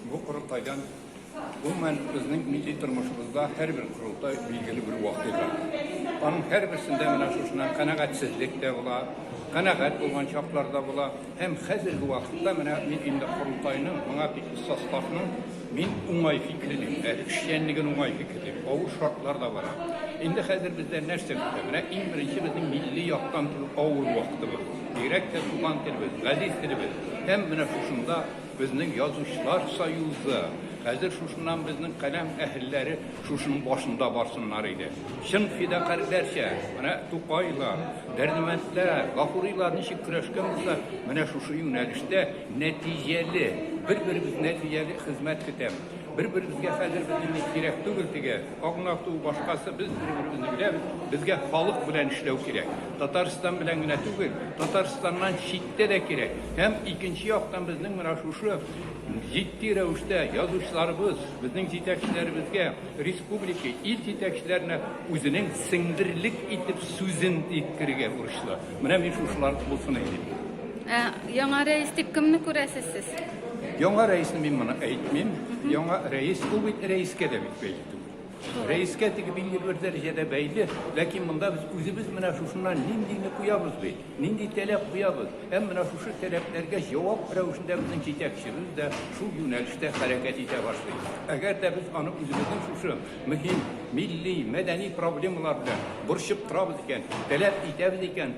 Бу корылтайдан гомумән безнең милли тормышыбызда һәрбер корылтай билгеле бер вакыйга. Аның һәрберсендә менә шушыннан канәгатьсезлек тә була, канәгать булган чаклар да була. Һәм хәзерге вакытта менә мин инде корылтайның моңа тикле составның мин уңай фикерлим, әле эшчәнлеген уңай фикерлим. Авыр шартлар да бара. Инде хәзер бездә нәрсә көтә? Менә иң беренче безнең милли яктан авыр вакытыбыз. Бигрәк тә туган телебез, газиз телебез. Һәм менә шушында Безнең язучылар союзы, хәзер шушыннан безнең каләм әһелләре шушының башында барсыннар иде. Чын фидакарьләрчә, менә Тукайлар, Дәрдемәндләр, Гафурилар ничек көрәшкән булса, менә шушы юнәлештә нәтиҗәле, бер-беребез нәтиҗәле хезмәт көтәм. Бер-беребезгә хәзер без инде кирәк түгел теге агнату, башкасы без бер-беребезне беләбез. Безгә халык белән эшләү кирәк. Татарстан белән генә түгел, Татарстаннан читтә дә кирәк. Һәм икенче яктан безнең менә шушы җитди рәвештә язучыларыбыз, безнең җитәкчеләребезгә, республика, ил җитәкчеләренә үзенең сеңдерлек итеп сүзен иткерергә бурычлы. Менә мин шушылар булсын әйтим. Ә яңа рәис дип кемне күрәсез сез? Яңа рәисне мин моны әйтмим. Яңа рәис ул бит рәискә дә бит бәйле түгел. Рәискә теге билгеле бер дәрәҗәдә бәйле, ләкин монда без үзебез менә шушыннан ниндине куябыз бит, нинди таләп куябыз. Һәм менә шушы таләпләргә җавап рәвешендә безнең җитәкчебез дә шул юнәлештә хәрәкәт итә башлый. Әгәр дә без аны үзебезнең шушы мөһим милли, мәдәни проблемалар белән борчып торабыз икән, таләп итәбез икән,